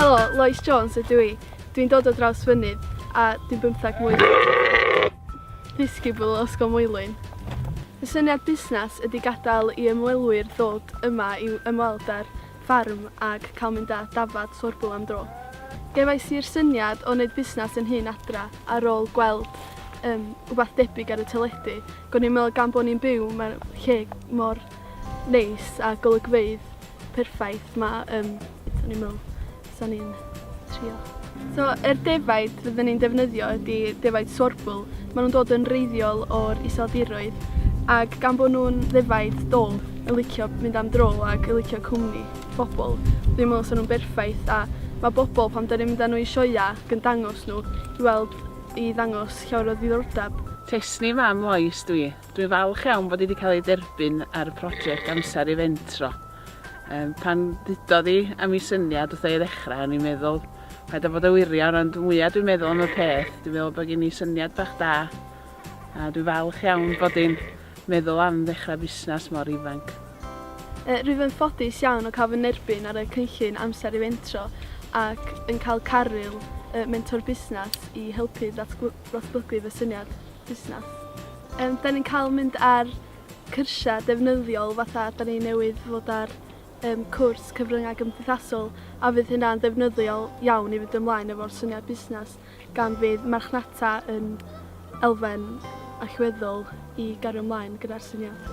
Helo, Lois Jones ydw i. Dwi'n dod o draws fynydd a dwi'n bymtheg mlwydd. Ddysgu bwyl o Ysgol Moelwyn. Fy syniad busnes ydy gadael i ymwelwyr ddod yma i ymweld â'r ffarm ac cael mynd â dafad sorbwl am dro. Gefais i'r syniad o wneud busnes yn nhŷ'n adra ar ôl gweld um, wbath debyg ar y teledu. Go'n i'n meddwl gan bo' ni'n byw mewn lle mor neis a golygfeydd perffaith 'ma yym so o'n i'n me'wl 'san i'n trio. So yr defaid fydden ni'n defnyddio ydi defaid sorbiwl, ma' nw'n dod yn wreiddiol o'r Iseldiroedd, ag gan bo' nw'n ddefaid dwfn yn licio mynd am dro ag yn licio cwmni pobol dwi'n me'wl sa nw'n berffaith a ma' bobol pan 'dan ni'n mynd â n'w i sioea ag yn dangos n'w i weld i ddangos llawer o ddiddordab. Testni fam Lois dw i. Dwi'n falch iawn bod hi wedi cael ei derbyn ar y project Amser i Fentro. Um, pan ddudodd hi am ei syniad wrth ei ddechrau, o'n i'n meddwl, rhaid o fod o wirion, ond mwyaf dwi'n meddwl am y peth, dwi'n meddwl bod gen i syniad bach da, a dwi'n falch iawn bod hi'n meddwl am ddechrau busnes mor ifanc. E, rwyf yn ffodus iawn o cael fy nerbyn ar y cynllun Amser i Fentro ac yn cael caryl mentor busnes i helpu ddatblygu fy syniad. busnes. Yym 'dan ni'n cael mynd ar cyrsiau defnyddiol fatha 'dan ni newydd fod ar yym cwrs cyfryngau gymdeithasol a fydd hynna'n ddefnyddiol iawn i fynd ymlaen efo'r syniad busnes gan fydd marchnata yn elfen allweddol i gario ymlaen gyda'r syniad.